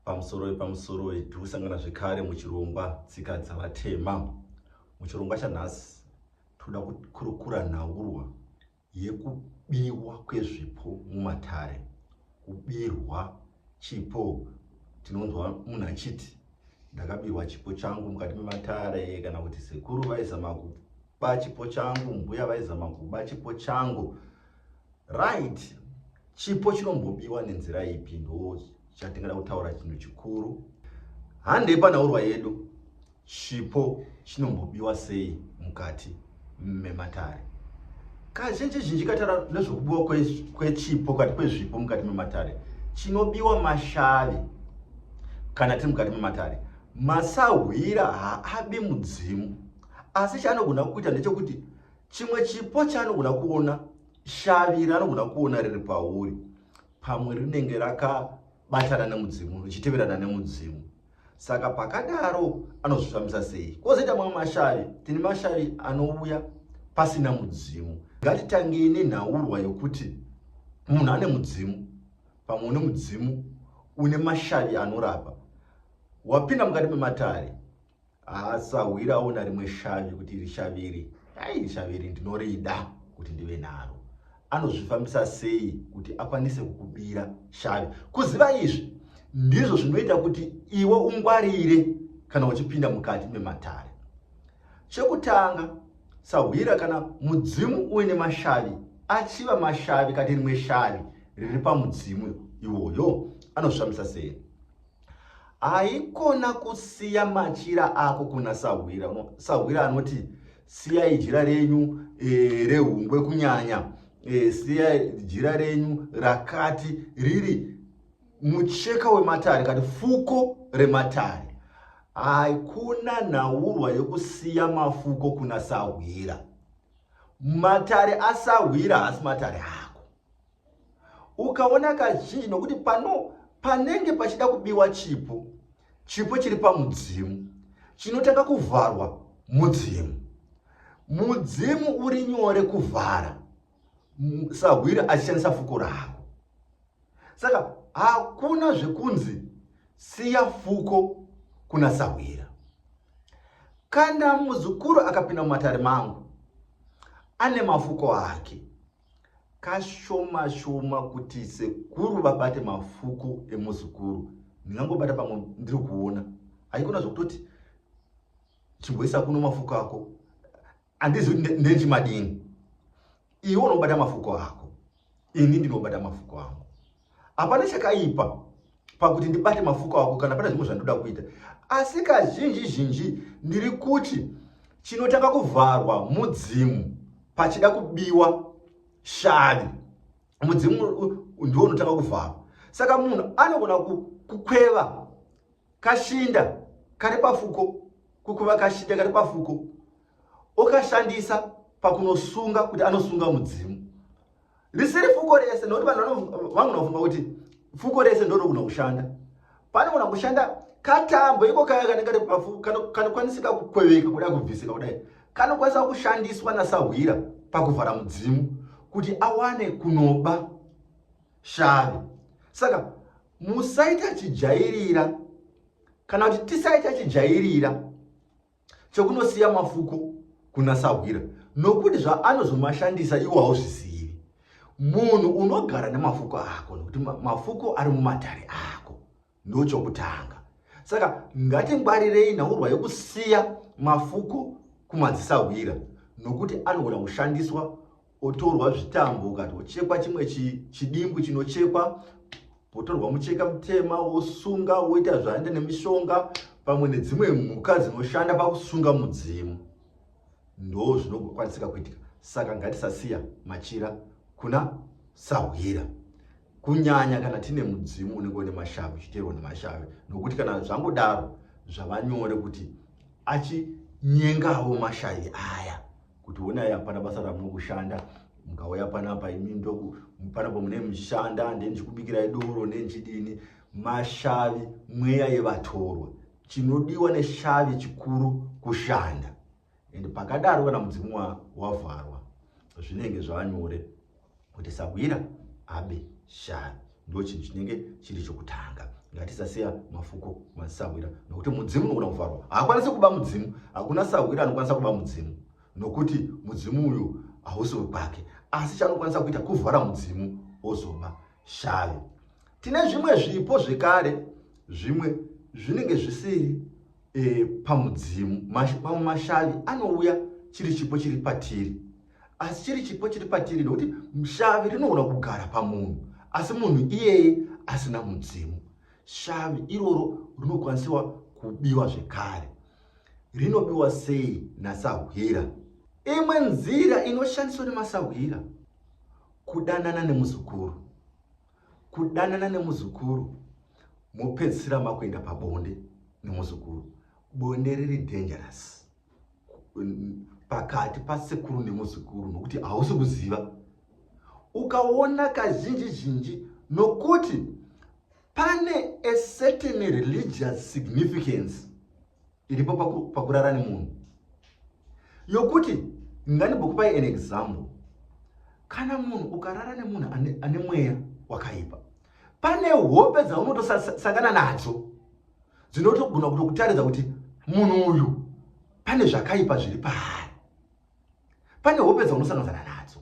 Pamusoro wepamusoro wedu kusangana zvekare muchirongwa tsika dzavatema. Muchirongwa chanhasi toda kukurukura nhaurwa yekubiwa kwezvipo mumatare. Kubirwa chipo, tinonzwa munhu achiti ndakabirwa chipo changu mukati mematare, kana kuti sekuru vaizama kuba chipo changu, mbuya vaizama kuba chipo changu. Right. Chipo chinombobiwa nenzira ipi ndo chatingada kutaura chinhu chikuru. Hande panhaurwa yedu chipo chinombobiwa sei mukati mematare. Kazhinji zhinji katara nezvokubiwa kwechipo kati kwezvipo mukati mematare chinobiwa mashavi kana tiri mukati mematare. Masahwira haabi mudzimu asi chaanogona kuita ndechekuti Chimwe chipo chaanogona kuona shavi raanogona kuona riri pauri pamwe rinenge rakabatana nemudzimu richiteverana nemudzimu saka pakadaro anozvifambisa sei kozoita mamwe mashavi tine mashavi anouya pasina mudzimu ngatitangei nenhaurwa yokuti munhu ane mudzimu pamwe une mudzimu une mashavi anorapa wapinda mukati mematare Haa sahwira aona rimwe shavi kuti iri shavi iri. Hai iri shavi iri ndinorida kuti ndive naro. Anozvifambisa sei kuti akwanise kukubira shavi. Kuziva izvi ndizvo zvinoita kuti iwe ungwarire kana uchipinda mukati mematare. Chekutanga, sahwira kana mudzimu uine mashavi achiva mashavi kati rimwe shavi riri pamudzimu iwoyo anozvifambisa sei. haikona kusiya machira ako kuna sahwira sahwira anoti siyai jira renyu e, rehungwe kunyanya e, eh, siyai jira renyu rakati riri mucheka wematare kati fuko rematare haikuna nhaurwa yekusiya mafuko kuna sahwira matare asahwira haasi matare ako ukaona kazhinji nokuti pano panenge pachida kubiwa chipo chipo chiri pamudzimu chinotanga kuvharwa mudzimu mudzimu uri nyore kuvhara sahwiri achishandisa fuko rako saka hakuna zvekunzi siya fuko kuna sahwira kana muzukuru akapinda mumatare mangu ane mafuko ake kashoma shoma kuti sekuru vabate mafuku emuzukuru ndingangobata pamwe ndiri kuona haikona zvekutoti chimboisa kuno mafuko ako handizivi ndechimadini iwe unobata mafuko ako ini ndinobata mafuko angu hapana chakaipa pakuti ndibate mafuko ako kana pane zvimwe zvandoda kuita asi kazhinji zhinji ndiri kuti chinotanga kuvharwa mudzimu pachida kubiwa shari mudzimu ndiwo unotanga kuvharwa saka munhu anogona kukweva kashinda kari pafuko kukuva kashinda kari pafuko okashandisa pakunosunga kuti anosunga mudzimu risiri fuko rese nokuti vanhu vanofunga kuti fuko rese ndorogona kushanda panogona kushanda katambo iko kaya kanenge kari pafuku kanokwanisika kukweveka kudai kubvisika kudai kanokwanisa kushandiswa nasahwira pakuvhara mudzimu kuti awane kunoba shavi saka musaita chijairira kana kuti tisaita chijairira chokunosiya mafuko kuna sahwira nokuti zvaanozomashandisa iwo hauzvizivi munhu unogara nemafuko ako nokuti mafuko ari mumatare ako ndochokutanga saka ngatingwarirei nhaurwa yokusiya mafuko kumadzisahwira nokuti anogona kushandiswa otorwa zvitambo ukati ochekwa chimwe chidimbu chinochekwa potorwa mucheka mutema wosunga woita zvaende nemishonga pamwe nedzimwe mhuka dzinoshanda pakusunga mudzimu ndo zvinokwanisika kuitika saka ngatisasiya machira kuna sahwira kunyanya kana tine mudzimu unenge une mashavi uchiteerwa nemashavi nokuti kana zvangodaro zvava nyore kuti achinyengawo mashavi aya kuti honai hapana basa ramuno kushanda mukauya panapa imi ndoku panapa mune muchishanda ndeni chikubikirai doro nenichidini mashavi mweya yevatorwa chinodiwa neshavi chikuru kushanda and pakadaro kana mudzimu wavharwa zvinenge zvanyore kuti sahwira abe shaya ndo chinhu chinenge chiri chokutanga ngatisasiya mafuko masahwira nokuti mudzimu unogona kuvharwa haakwanisi kuba mudzimu hakuna sahwira anokwanisa kuba mudzimu nokuti mudzimu uyu hausi wekwake asi chaanokwanisa kuita kuvhara mudzimu ozoba shayo tine zvimwe zvipo zvekare zvimwe zvinenge zvisiri e, pamudzimu mamwe mashavi anouya chiri chipo chiri patiri asi chiri chipo chiri patiri nokuti shavi rinogona kugara pamunhu asi munhu iyeye asina mudzimu shavi iroro rinokwanisawa kubiwa zvekare rinobiwa sei nasahwira imwe nzira inoshandiswa nemasahwira kudanana nemuzukuru kudanana nemuzukuru mopedzisira makuenda pabonde nemuzukuru bonde riri dangerous pakati pasekuru nemuzukuru nokuti hausi kuziva ukaona kazhinji zhinji nokuti pane a certain religious significance iripo pakurara nemunhu yokuti ngandibokupai an example kana munhu ukarara nemunhu ane mweya wakaipa pane hope dzaunotosangana nadzo dzinotogona kutokutaridza kuti munhu uyu pane zvakaipa zviri paari pane hope dzaunosanganisana nadzo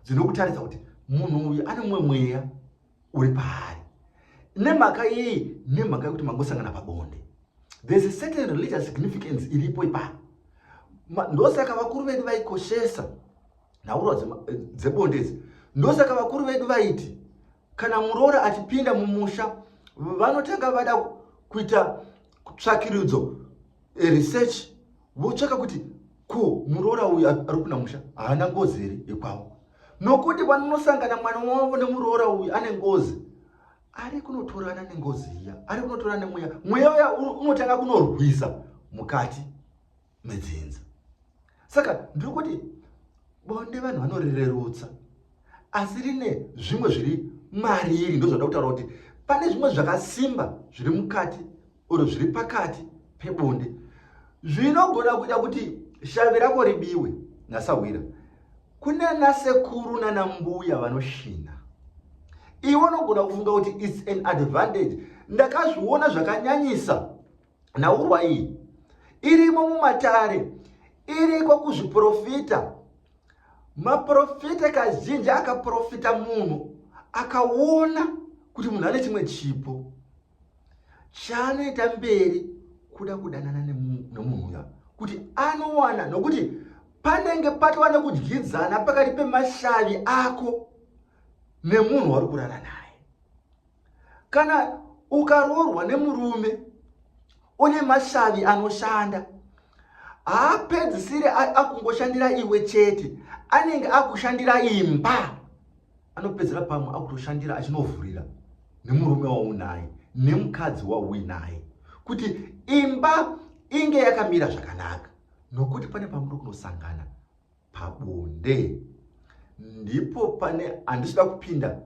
dzinokutaridza kuti munhu uyu ane mumwe mweya uri paari nemhaka yei nemhaka yekuti mangosangana pabonde there's a certain religious significance iripo ipapo ndosaka vakuru vedu vaikoshesa nhaurwa dzebonde idzi ndosaka vakuru vedu vaiti kana muroora achipinda mumusha vanotanga vada kuita tsvakirudzo eh, research votsvaka kuti ko muroora uyu ari kuna musha haana ngozi here yekwavo nokuti vanonosangana mwana wavo nemuroora uyu ane ngozi ari kunotorana nengozi iya ari kunotorana nemweya mweya uya unotanga kunorwisa mukati medzinza saka ndiri kuti bonde vanhu vanorirerutsa asi rine zvimwe zviri mariri ndozvada kutaura kuti pane zvimwe zvakasimba zviri mukati oro zviri pakati pebonde zvinogona kuita kuti shavi rako ribiwe nasahwira kune anasekuru nanambuya vanoshina iwe unogona kufunga kuti its an advantage ndakazviona zvakanyanyisa nhaurwa iyi irimo mumatare iriko kuzviprofita maprofita kazhinji akaprofita munhu akaona kuti munhu ane chimwe chipo chaanoita mberi kuda kudanana nemunhu uya kuti anowana nokuti panenge patova nekudyidzana pakati pemashavi ako nemunhu wari kurara naye kana ukaroorwa nemurume une mashavi anoshanda haapedzisire akungoshandira iwe chete anenge akushandira imba anopedzera pamwe akutoshandira achinovhurira nemurume waunaye nemukadzi wauinaye kuti imba inge yakamira zvakanaka nokuti pane pamuri kunosangana pabonde ndipo pane handisida kupinda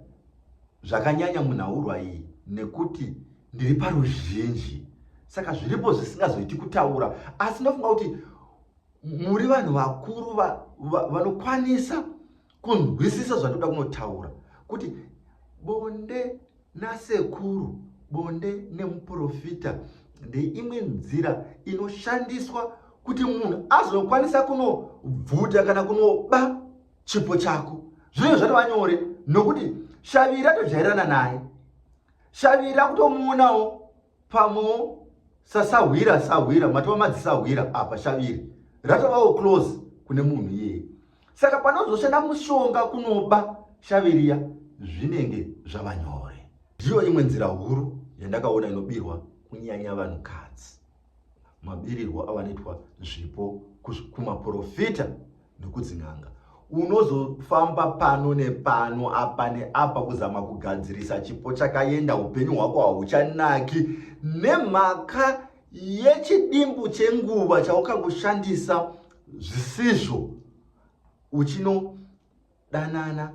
zvakanyanya munhaurwa iyi nekuti ndiri paruzhinji saka zviripo zvisingazoiti kutaura asi ndofunga kuti muri vanhu vakuru vanokwanisa va, va kunzwisisa zvandoda kunotaura kuti bonde nasekuru bonde nemuprofita ndeimwe nzira inoshandiswa kuti munhu azokwanisa kunobvuta kana kunoba chipo chako zvinenge zvatova nyore nokuti shavi ratojairana naye shavi rakutomuonawo pamwewo sasahwira sahwira matova madzisahwira apa shaviri ratovawo close kune munhu iyeye saka panozoshanda mushonga kunoba shaviriya zvinenge zvava nyore ndiyo imwe nzira huru yandakaona inobirwa kunyanya vanhukadzi mabirirwo avanoitwa zvipo kumaprofita nekudzin'anga unozofamba pano nepano apa neapa kuzama kugadzirisa chipo chakaenda upenyu hwako hauchanaki nemhaka yechidimbu chenguva chaukangoshandisa zvisizvo uchinodanana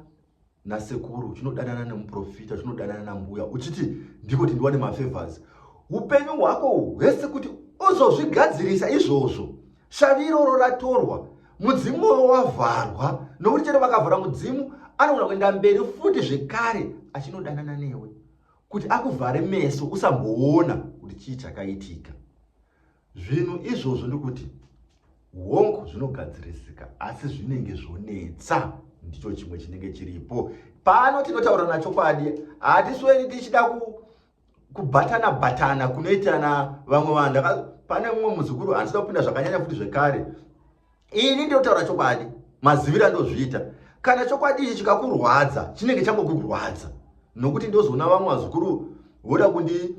nasekuru uchinodanana nemuprofita uchinodanana nambuya uchiti ndiko kuti ndiwane mafavors upenyu hwako hwese kuti uzozvigadzirisa izvozvo shavi iroro ratorwa mudzimu wavo wavharwa nokuti chero vakavhura mudzimu anogona kuenda mberi futi zvekare achinodanana newe kuti akuvhare meso usamboona kuti chii chakaitika Zvinhu izvozvo ndikuti hongu zvinogadzirisika asi zvinenge zvonetsa ndicho chimwe chinenge chiripo pano tinotaura nachokwadi hatisweni tichida kubatana batana kunoitana vamwe vanhu pane mumwe muzukuru handisida kupinda zvakanyanya futi zvekare ini ndinotaura chokwadi maziviro andozviita kana chokwadi ichi chikakurwadza chinenge changokukurwadza nokuti ndozoona vamwe vazukuru voda kundi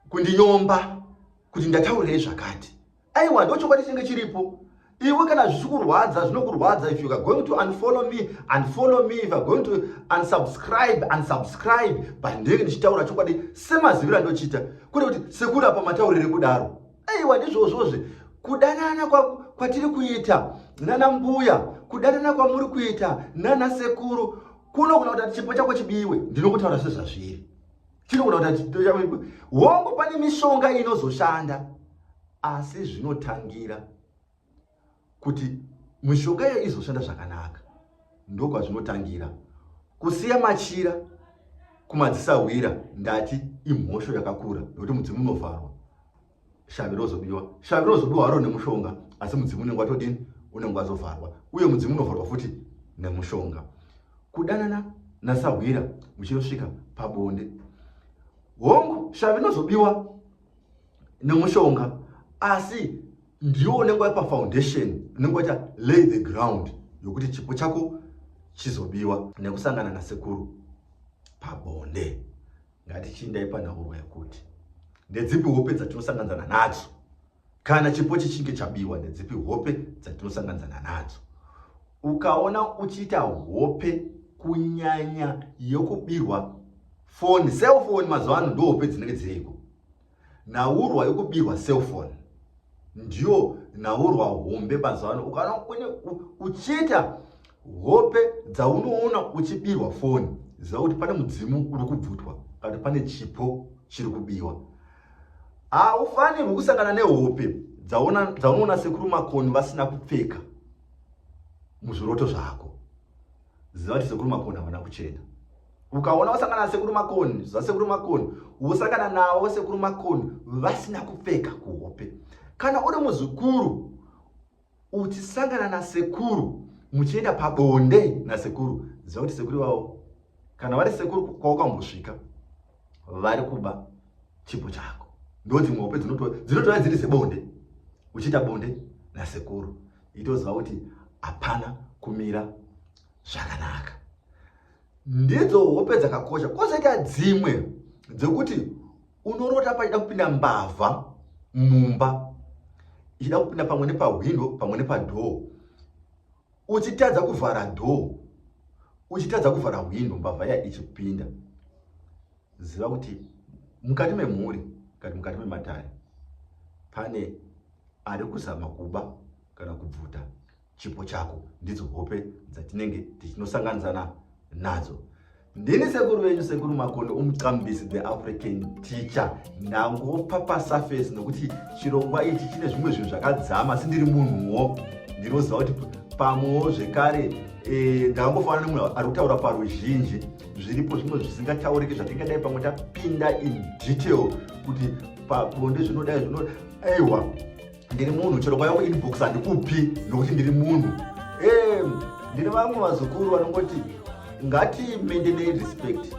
kundinyomba kuti ndataurire zvakati aiwa ndo chokwadi chinenge chiripo iwe kana zvichikurwadza zvinokurwadza if youare going to unfollow me unfollow me if are going to unsubscribe unsubscribe but ndinenge ndichitaura chokwadi semaziviro andochiita kune kuti sekuru apa mataurire kudaro aiwa ndizvozvozve kudanana kwatiri kwa kuita nana mbuya kudanana kwamuri kuita nana sekuru kunogona kuti chipo chako chibiwe ndinokutaura sezvazviri chinoona kuti hongu pane mishonga inozoshanda asi zvinotangira kuti mishonga iyo izoshanda zvakanaka ndokwazvinotangira kusiya machira kumadzisahwira ndati imhosho yakakura nokuti mudzimu unovharwa shavi rozobiwa shavi rozobiwa waro nemushonga asi mudzimu unenge watodini unenge wazovharwa uye mudzimu unovharwa futi nemushonga kudanana nasahwira muchinosvika pabonde hongu shavi inozobiwa nemushonga asi ndiwo unenge waipa foundation unenge waita lay the ground yokuti chipo chako chizobiwa nekusangana nasekuru pabonde Ngatichindai panhaurwa yekuti ndedzipi hope dzatinosanganzana nadzo kana chipo chichinge chabiwa ndedzipi hope dzatinosanganzana nadzo ukaona uchiita hope kunyanya yokubirwa foni cellfoni mazuva ano ndohope dzinenge dziriko Nhaurwa yokubirwa cellphone ndiyo nhaurwa hombe mazuva ano ukanaone uchiita hope dzaunoona uchibirwa foni ziva kuti pane mudzimu uri kubvutwa kana pane chipo chiri kubiwa haufanirwi kusangana nehope dzaunoona sekuru makoni vasina kupfeka muzviroto zvako ziva kuti sekuru makoni havana kuchena ukaona wasangana na sekuru makoni zvasekuru makoni wosangana navo sekuru makoni vasina kupfeka kuhope kana uri muzukuru uchisangana na sekuru muchienda pabonde na sekuru ziva kuti sekuru vavo kana vari sekuru kwaukambosvika vari kuba chipo chako ndo dzimwe hope dzinotova dziri sebonde uchiita bonde nasekuru itoziva kuti hapana kumira zvakanaka ndidzo hope dzakakosha kozoita dzimwe dzekuti unorota pachida kupinda mbavha mumba ichida kupinda pamwe nepahwindo pamwe nepadhoo uchitadza kuvhara dhoo uchitadza kuvhara hwindo mbavha iya ichipinda ziva kuti mukati memhuri kati mukati mematare pane ari kuzama kuba kana kubvuta chipo chako ndidzo hope dzatinenge tichinosanganisana nadzo ndini sekuru venyu sekuru makondo umucambisi the african teacher ndangopa pasurface nokuti chirongwa ichi chine zvimwe zvinhu zvakadzama asi ndiri munhuwo ndinoziva kuti pamwewo zvekare eh, ndakangofanana nemunhu ari kutaura paruzhinji zviripo zvimwe zvisingatauriki zvatingadai pamwe tapinda in detail kuti pabonde zvinodai zvino aiwa ndiri munhu chero kwaya kuinbox handikupi nokuti ndiri munhu eh, ndine vamwe vazukuru vanongoti ngati maintainei respect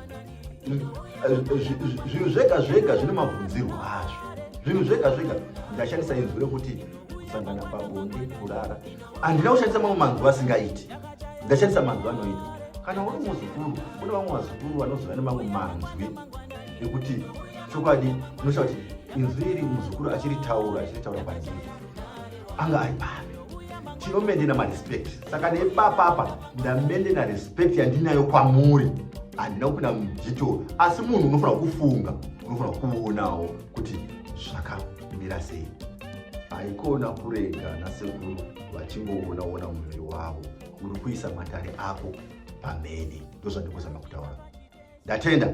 mm, eh, zvinhu zvega zvega zvine mabvunzirwo azvo zvinhu zvega zvega ndashandisa inzwi rekuti kusangana pabonde kurara handina kushandisa mamwe manzwi asingaiti ndashandisa manzwi anoita kana uri muzukuru kune vamwe vazukuru vanoziva nemamwe manzwi ekuti chokwadi unosha kuti inzwi iri muzukuru achiritaura achiritaura kwandiri anga ari papi tinomendena marespect saka nepapapa ndamendena respect yandinayo kwamuri handina kupinda mudetail asi munhu unofanira kufunga unofanira kuonawo kuti zvakamira sei haikona kurega nasekuru vachingoona ona muviri wavo uri kuisa matare ako pamene ndozvandikuzama kutaura ndatenda